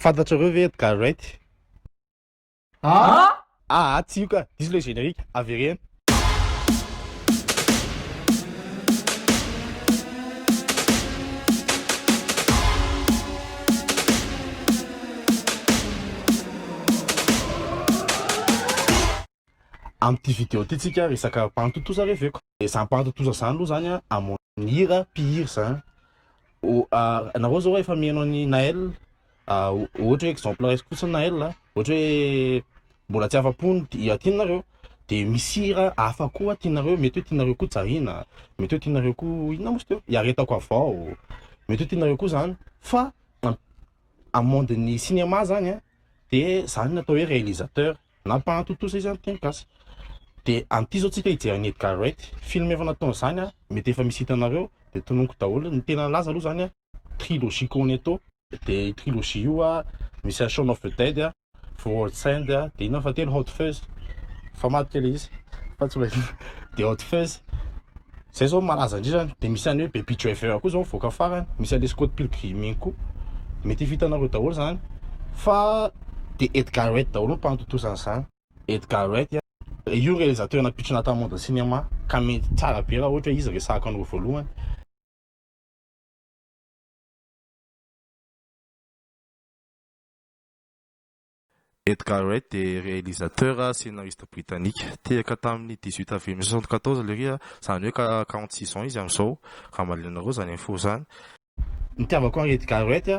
Fantatrareo ve Edgar Wright? Ah! Ah, tsy io ka. Diso ilay générique. Avereno. Amin'ity vidéo ity tsika resaka bandy tontosa reveko. Izany bandy tontosa izany aloha izany a, Ny hira mpihira zany nareo zao efa mihaino an'i Naël ohatra hoe exemple raisiko fotsiny Naël ohatra hoe mbola tsy afa-po ny hira tianareo de misy hira hafa koa tianareo mety hoe tianareo koa Jahina mety hoe tianareo koa inona moa izy teo iaretako avao mety hoe tianareo koa zany fa amin'ny monde-n'ny cinéma zany de zany ny atao hoe réalisateur Nampahatontosa izy amin'ny teny gasy. Dia anty izao tsika hijery an'i Edgar Wright. Film efa nataony izany an! Mety efa misy hitanareo. Dia tononiko daholo. Ny tena laza aloha izany an! Trilogie Cornetto. Dia io trilogie io an! Misy an Shaun of the Dead an! For All Saints an! Dia inona ny fahatelo? Hot Fuzz. Fa madika ilay izy. Fa tsy mba inona. Dia Hot Fuzz. Zay zao malaza indrindra any, de misy any hoe baby driver koa zao mivoaka farany, misy any le scott pilgrim iny koa, mety hifitanareo daholo zany fa de Edgar Wright daholo no mpanotontosa an'izany, Edgar Wright an, io realisateur nampitrina tamin'ny monde cinéma ka mety tsara be raha ohatra hoe izy resahako anareo voalohany. Edgar Wright dia realisateur sy scénariste britanika. Tehaka tamin'ny dix-huit avril mille sept cent soixante-quatorze Lery, izany hoe ka quarante-six ans izy amin'izao, raha mahaliana anareo izany info izany. Nitiavako an'i Edgar Wright,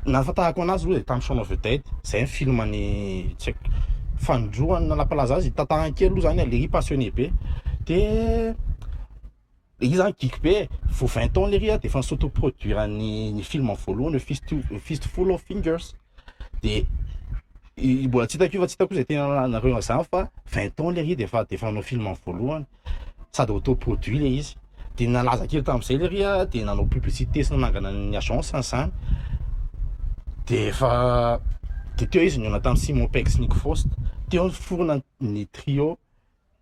nahafantarako anazy aloha dia tamin'ny Shaun of the Dead, izay ny filmany tsy haiko, fanindroany na nampalaza azy, tantarany kely aloha izany Lery passionné be dia. Io zany geek be e, vao vingt ans lery a de efa ni s'auto produire ny ny film voalohany hoe fist fist full of fingers de i mbola tsy hitako io fa tsy hitako zay tena anareo an'zany fa vingt ans lery de efa de efa nanao film voalohany sady auto produit le izy de nalaza kely tam'zay lery a de nanao publicité sy nanangana ny agence an'zany de efa de teo izy nihaona tam Simon Pegg sy Nick Frost teo niforona ny trio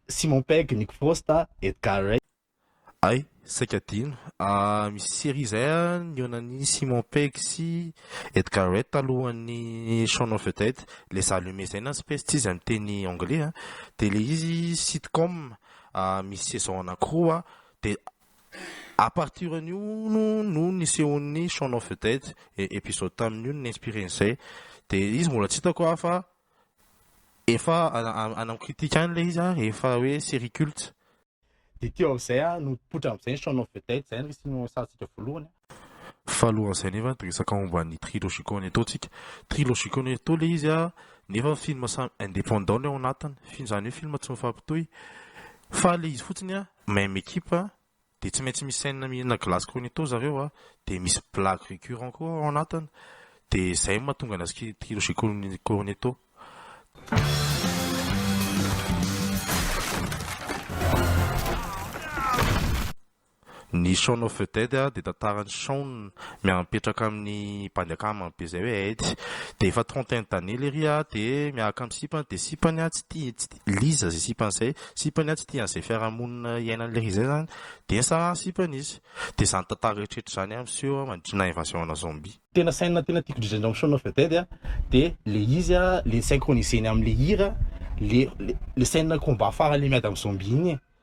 Simon Pegg, Nick Frost, Edgar Ray. Ay, saika adino. Ah, misy série izay ah, nionan'i Simon Pegg sy Edgar Wright talohan'ny Shaun of the Dead. Ilay Za Lumet izay na Spaced izy amin'ny teny anglais an. Dia ilay izy sitcom ah, misy saison anankiroa an. Dia à partir an'io no no nisehoan'ny Shaun of the Dead. E- Episode tamin'io no ni-inspirer an'izay. Dia izy mbola tsy hitako ah fa Efa ana critique any le izy a, efa hoe série culte. Dia teo amin'izay aho no nipoitra amin'izay ny Shaun of the Dead, izay no isan'ny niresahantsika voalohany. Fa alohan'izay nefa dia resaka momba an'i Trilogico Neto tsika. Trilogico Neto le izy a, nefa film samy indépendant le ao anatiny, izany hoe film tsy mifampitohy, fa le izy fotsiny a, même équipe, dia tsy maintsy misainina mihinana glace cornetto zareo a, dia misy blague récurrent koa ao anatiny, dia izay no mahatonga an'azy ki- kilo chez Corn- cornetto. Ny Shaun of the Dead a dia tantaran'i Shaun miara-mipetraka amin'ny bandy akama be izay hoe Ed, dia efa trente et un d'années lery a, dia miaraka amin'ny sipany, dia sipany a tsy tia, Liza izay sipany izay, sipany tsy tia an'izay fiarahamonina iainany lery izay izany, dia nisarahana ny sipany izy. Dia izany tantara rehetra izany aho miseho mandritra ny invasion ana zombie. Tena scène tena tiako indrindra indrindra amin'ny Shaun of the Dead a, dia ilay izy a, ilay ni-synchronise-ny amin'ilay hira, ilay ilay scène combat farany ilay miady amin'ny zombie iny e,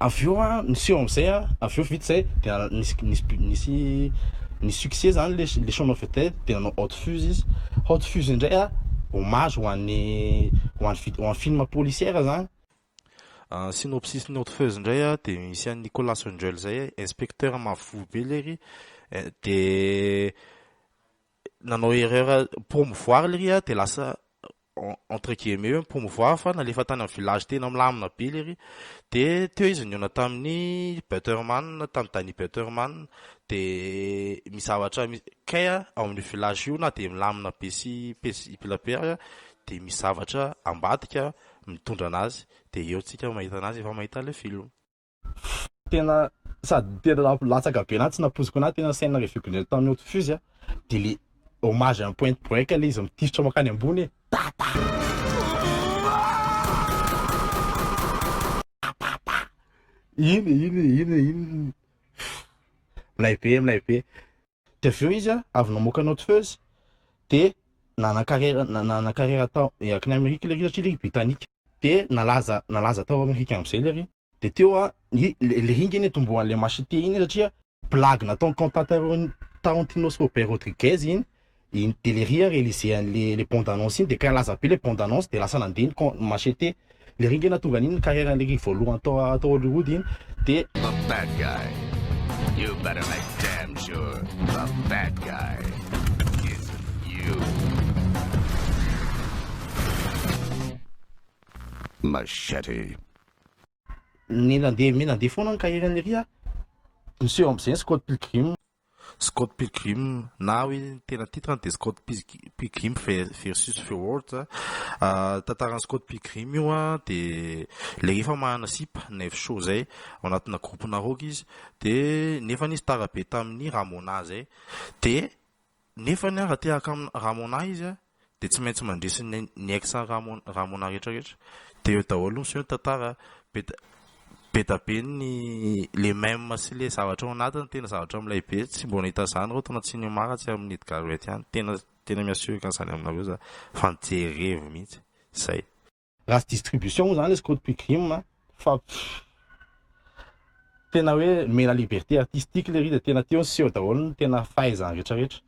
avy eo an niseho amizay an avy eo vita zay dia nisy nisy nisy nisy succès zany le le chant of the dia nanao out fuse izy out fuse indray an hommage ho an'ny ho an'ny ho an'ny film policière zany Ah, synopsis ny Outfeuse indray ah, dia misy an'i Nicolas Angel izay eh, inspecteur mavovovy be lery eh, dia nanao erreur promouvoir lery ah, dia lasa entre guillemets hoe mi-promouvoir fa nalefa tany amin'ny village tena milamina be lery dia teo izy nihaona tamin'ny Butterman tamin'ny Danny Butterman dia misy zavatra misy kay a ao amin'io village io na dia milamina be sy paisible aza dia misy zavatra ambadika mitondra an'azy dia eo tsika mahita an'azy efa mahita ilay film tena sady tena latsaka be na tsy nampoiziko anahy tena scène revue glare tany haute fuse de le hommage en point break le izy mitifitra makany ambony e tata iny iny iny iny milay be milay be Dia avy eo izy an, avy namoaka Not Fuzz dia nanan-karera nanan-karera tao akany Amerika lery satria lery Britanika. Dia nalaza nalaza tao Amerika amin'izay lery. Dia teo an, i lery nge nitomboan'ilay Machete iny satria blague nataon'i Quentin Taron Tarantinos Robert Rodriguez iny, dia lery an realiser an'ilay bande annonce iny dia kay nilaza be ilay bande annonce dia lasa nandeha ny Machete Le ringana tonga an'iny carrière an'le ring voalohany tao tao Hollywood iny de The bad guy You better make damn sure The bad guy isn't you Machete Ny nandeha mi- nandeha foana ny carrière an'i Ry a, niseho am'zay ny Scott Pilgrim. Scott Pilgrim na hoe ny tena titre-ny dia Scott Pilgrim versus the world. Tantaran'i Scott Pilgrim io dia ilay efa manana sipa, knife show izay, ao anatina groupe-na rock izy dia nefa izy tara be tamin'ny Ramona izay dia nefany raha te haka amin'i Ramona izy an! dia tsy maintsy mandresy ny ny ex Ramon Ramona rehetra rehetra dia eo daholo miseho ny tantara be da be da be ny le meme sy le zavatra ao anatiny tena zavatra milay be tsy mbola nahita an'izany aho taona tsy niomara tsy amin'ny Edgard Roet ihany tena tena miha sûr an'izany aminareo za fa nijery revy mihitsy zay Raha tsy distribution moa zany izy Code Pugrim a fa tena hoe mena liberté artistique lery dia tena teo ny seho daholo ny tena fahaizany rehetra rehetra.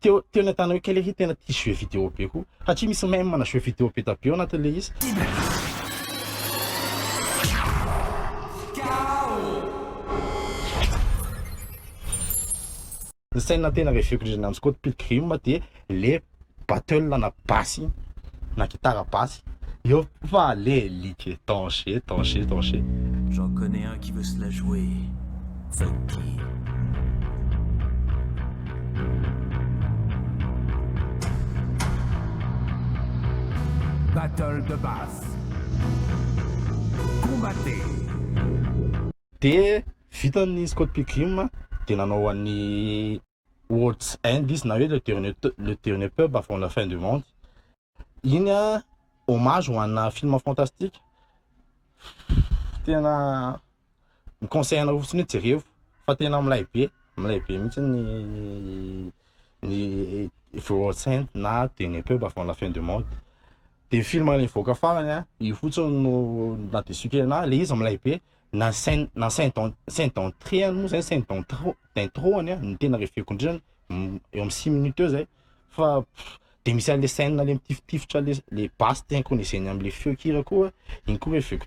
Teo teo ny atana hoe kay lery tena tia jeux vidéo be koa satria misy meme mana jeux vidéo be da be ao anatin'ilay izy. Ny scène tena reveko indrindra nananan'i Scott Pilgrim dia le battle na basy na gitara basy eo fa le like danger danger danger. J'en connais un qui veut se la jouer, Funky. Battle de basse. Combattez. De vita ny Scott Pilgrim a, de nanao an'i World's End izy na hoe le dernier t- le dernier pub avant la fin du monde, iny a hommage ho ana film fantastique, tena mi conseille anareo fotsiny hoe jerevo fa tena milay be, milay be mihitsy ny ny The World's End na dernier pub avant la fin du monde, de film nivoaka farany a, io fotsiny no naha deçu kely anahy, le izy milay be. na scène na scène d'en- scène d'entrée any moa zay scène d'entro- d'intro any a no tena reveko indrindra m- eo amin'ny six minutes eo zay fa pff, de misy an'le scène le mitifitifitra le le basse synchronisé-ny am'le feon-kira koa iny koa reveko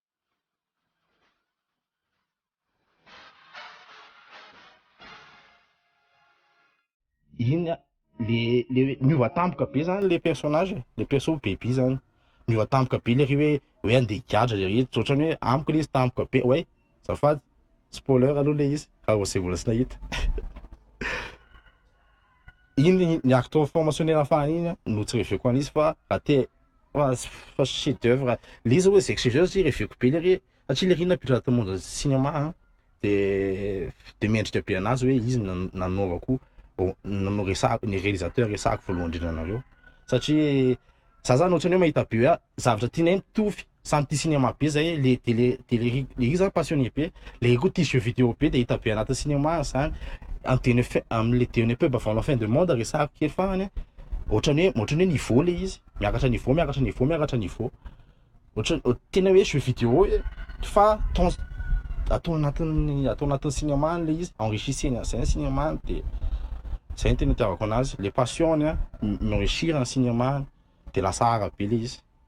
iny le le miova tampoka be zany le personnage e. le perso baby zany miova tampoka be le ry hoe hoe andeha higadra le izy ohatrany hoe amiko le izy tampoka be oay zafady spoiler aloha le izy raha vao zay mbola tsy nahita iny ny acte of promotionner fahiny iny an no tsy reveko an'izy fa raha te fa fa chef d'oeuvre le izy hoe zay chef d'oeuvre zay reveko be lery e satria lery iny nampiditra anaty monde ny cinéma an de de mendrika be anazy hoe izy no nanaovako oh, no resahako ny réalisateur resahako voalohany indrindra anareo satria za zany ohatrany hoe mahita be hoe zavatra tianay mitovy Samy tia cinéma be zay le de le de le ry le ry zany passionné be le ry koa tia jeux vidéo be de hita be anatin'ny cinéma zany am de ne fin am le de ne pub avant la fin de monde resahako kely fagnany a otrany hoe otrany hoe niveau le izy miakatra niveau miakatra niveau miakatra niveau otrany hoe tena hoe jeux vidéo e fa temps atao anatin'ny atao anatin'ny cinéma any le izy enrichissena an'zay ny cinéma any de zay ny tena itiavako anazy le passion-ny a mi enrichir ny cinéma any de lasa art be le izy.